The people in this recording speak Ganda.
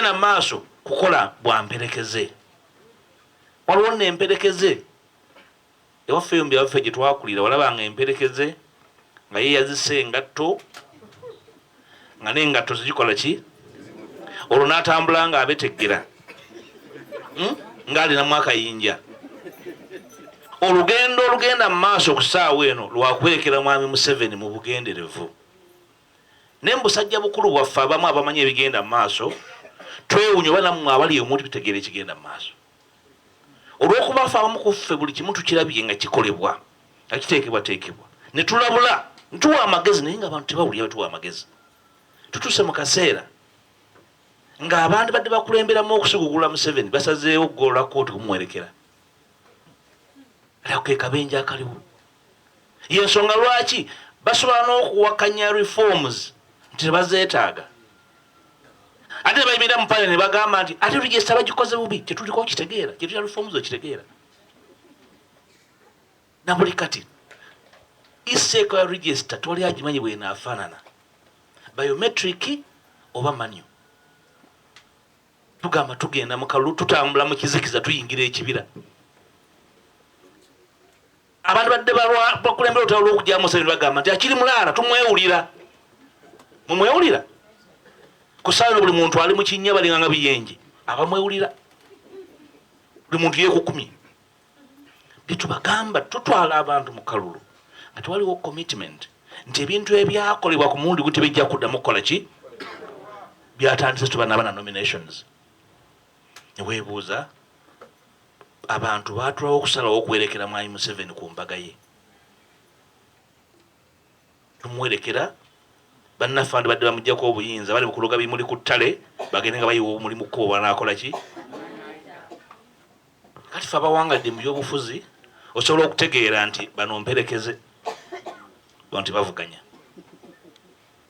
tugenda mu maaso kukola bwa mperekeze waliwo nno emperekeze ewaffe yombi abaffe gye twakulira walaba nga emperekeze nga yeyazisa engatto nga n'engatto zigikola ki olwo n'atambula nga abeteggera hmm? ng'alinamu akayinja olugendo olugenda mu maaso okusaawa eno lwakwerekera mwami museveni mu bugenderevu Naye mubusajja bukulu bwaffe abamu abamanyi ebigenda mumaaso twewunya oba namwe abali omu tebitegeera ekigenda mumaaso olwokuba fe abamu kuffe buli kimu tukirabye nga kikolebwa nga kiteekebwateekebwa netulabula ntuwa amagezi naye nga abantu tebawulira betuwa amagezi tutuse mukaseera nga abandi badde bakulemberamu okusigugula museveni basazeewo okugolola kooti kumuwerekera lako kekabenja akaliwo Yensonga lwaki basobola n'okuwakanya reforms nti tebazetaaga ate nebayimira mu parliament nebagamba nti ate register bagikoze bubi kyetuliko kitegeera kyetulya reforms okitegeera nabuli kati iseeko ya register tewali agimanyi bwenaafaanana biometric oba manyo tugamba tugenda mukalulu tutambula mu kizikiza tuyingira ekibira Abantu badde bakulembera olutalo lw'okuggyamu Museveni bagamba nti akiri mulaala tumwewulira. Mumwewulira? Ku ssaawa eno buli muntu ali mu kinnya balinga nga biyenje abamwewulira. Buli muntu yeekukumye. Bye tubagamba tutwala abantu mu kalulu nga tewaliwo commitment nti ebintu ebyakolebwa ku mulundi gu tebijja kuddamu kukola ki byatandise tuba naba na nominations ne weebuuza Abantu baatulawo okusalawo okuwerekera Mwami Museveni ku mbaga ye. Tumuwerekera, bannaffe bandibadde bamuggyako obuyinza, bali mu kuloga bimuli ku ttale, bagende nga bayiwa obumuli mu kkubo banaakola ki? Kati ffe abawangadde mu byobufuzi osobola okutegeera nti bano mperekeze nti bavuganya.